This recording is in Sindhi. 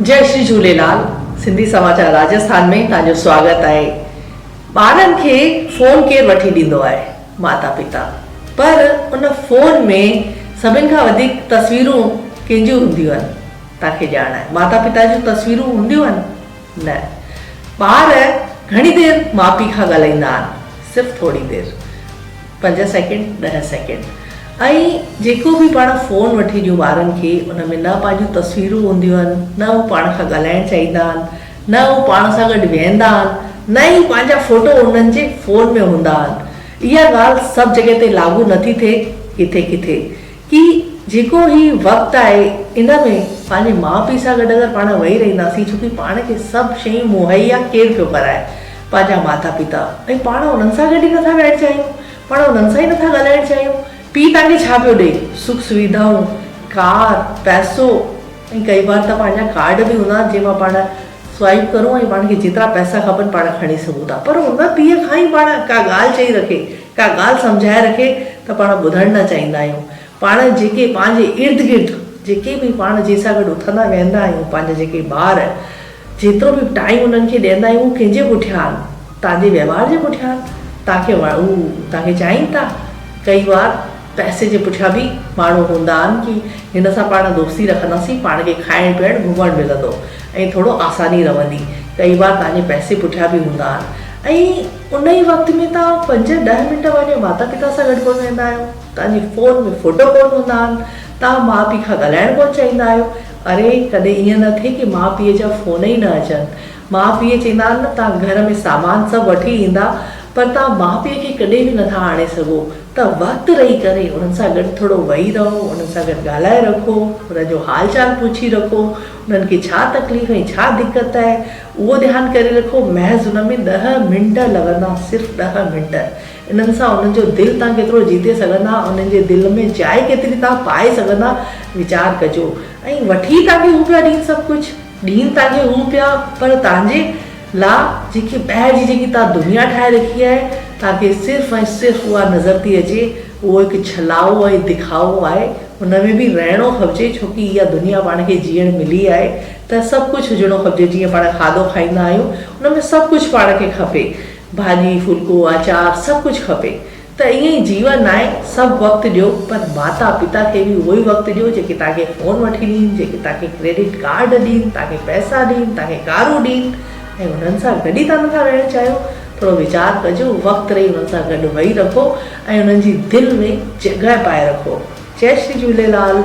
جئي شري جهوليلال سنڌي سماچار راجسٿان ۾ توهان جو سواگت آهي ٻارن کي فون ڪير وٺي ڏيندو آهي ماتا پيتا پر ان فون ۾ سڀن کان وڌيڪ تصويرون ڪنهن جون هونديون آهن توهان کي ڄاڻ آهي ماتا پيتا جون تصويرون هونديون آهن نه ٻار گهڻي دير ماء پيء کان ڳالهائيندا آهن صرف ٿوري دير. پنج سيڪنڊ، ڏهه سيڪنڊ ۽ جيڪو به پاڻ فون وٺي ڏيون ٻارن کي ان ۾ نه پنهنجون تصويرون هونديون آهن، نه هو پاڻ کان ڳالهائڻ چاهيندا آهن، نه هو پاڻ سان گڏ ويهندا آهن، نه ئي پنهنجا فوٽو انهن جي فون ۾ هوندا آهن. اها ڳالهه سڀ جڳهه تي لاڳو نٿي ٿئي، ڪٿي ڪٿي. ڪي جيڪو هي وقت آهي ان ۾ پنهنجي ماء پيء سان گڏ اگر پاڻ وئي رهنداسين ڇو ڪي پاڻ کي سڀ شيون مهيا ڪير پيو ڪرائي پنهنجا ماتا پيتا ۽ پاڻ انهن سان گڏ ئي نٿا ويهڻ چاهيون پاڻ انهن سان ئي نٿا ڳالهائڻ چاهيون پيء تان کي ڇا پيو ڏئي سک سويڌائون ڪار پئسو ۽ ڪئي بار ته پنهنجا ڪارڊ به هوندا آهن جنهن مان پاڻ سوائيپ ڪرون ۽ پاڻ کي جيترا پئسا کپن پاڻ کڻي سگهون ٿا پر ان پيء کان ئي پاڻ ڪا ڳالهه چئي رکي ڪا ڳالهه سمجهائي رکي ته پاڻ ٻڌڻ نه چاهيندا آهيون. پاڻ جيڪي پنهنجي ارد گرد جيڪي به پاڻ جنهن سان گڏ اٿندا ويهندا آهيون پنهنجا جيڪي ٻار جيترو به ٽائيم انهن کي ڏيندا آهيون اهو ڪنهن جي پٺيان آهن توهان جي وهنوار جي پٺيان آهن توهان کي هو توهان کي چاهين ٿا ڪئي وار پئسي جي پٺيان به ماڻهو هوندا آهن ڪي هن سان پاڻ دوستي رکنداسين پاڻ کي کائڻ پيئڻ گهمڻ ملندو ۽ ٿورو آساني رهندي ڪئي وار توهان جي پئسي پٺيان به هوندا آهن ۽ ان ئي وقت ۾ توهان پنج ڏهه منٽ پنهنجي ماتا پتا سان گڏ ڪونه ويهندا آهيو، توهان جي فون ۾ فوٽو ڪونه هوندا آهن، توهان ماء پيء کان ڳالهائڻ ڪونه چاهيندا آهيو، اري ڪڏهن ائين نه ٿئي ڪي ماء پيء جا فون ئي نه اچن، ماء پيء چيندا آهن نه توهان گهر ۾ سامان سڀ وٺي ايندا پر توهان ماء پيء کي ڪڏهن به نٿا آڻي سگهو ته وقت رهي ڪري انهن سان گڏ ٿورو ويهي رهو، انهن سان گڏ ڳالهائي رکو، انهن جو حال چال پڇي رکو، انهن کي ڇا تڪليف ۽ ڇا دقت آهي، اهو ڌيان ڪري رکو محض ان ۾ ڏهه منٽ لڳندا صرف ڏهه منٽ انهن سان انهن جو دل تان ڪيترو جيتي سگهندا انهن جي دل ۾ جاء ڪيتري تان پائي سگهندا ويچار ڪجو ۽ وٺي تانکي هو پيا ڏين سڀ ڪجهه ڏين تانکي هو پيا پر تانجي لا جيڪي ٻاهر جي جيڪي تان دنيا ٺاهي رکي آهي تانکي صرف ۽ صرف اها نظر ٿي اچي اهو هڪ ڇلاء ۽ دکائو آهي ان ۾ به رهڻو کپجي ڇو ڪي اها دنيا پاڻ کي جيئڻ ملي آهي ته سڀ ڪجهه هجڻو کپجي جيئن پاڻ کاڌو کائيندا آهيون ان ۾ سڀ ڪجهه پاڻ کي کپي ڀاڄي ڦلڪو آچار سڀ ڪجهه کپي ته ائين ئي جيون آهي سڀ وقت ڏيو پر ماتا پتا کي به اهو ئي وقت ڏيو جيڪي توهان کي فون وٺي ڏين جيڪي توهان کي ڪريڊٽ ڪارڊ ڏين توهان کي پئسا ڏين توهان کي ڪارون ڏين ۽ انهن سان گڏ ئي توهان نٿا رهڻ چاهيو ٿورو ويچار ڪجو، وقت رهي انهن سان گڏ ويهي رکو ۽ انهن جي دل ۾ جڳهه پائي رکو. جئي شري جهوليلال.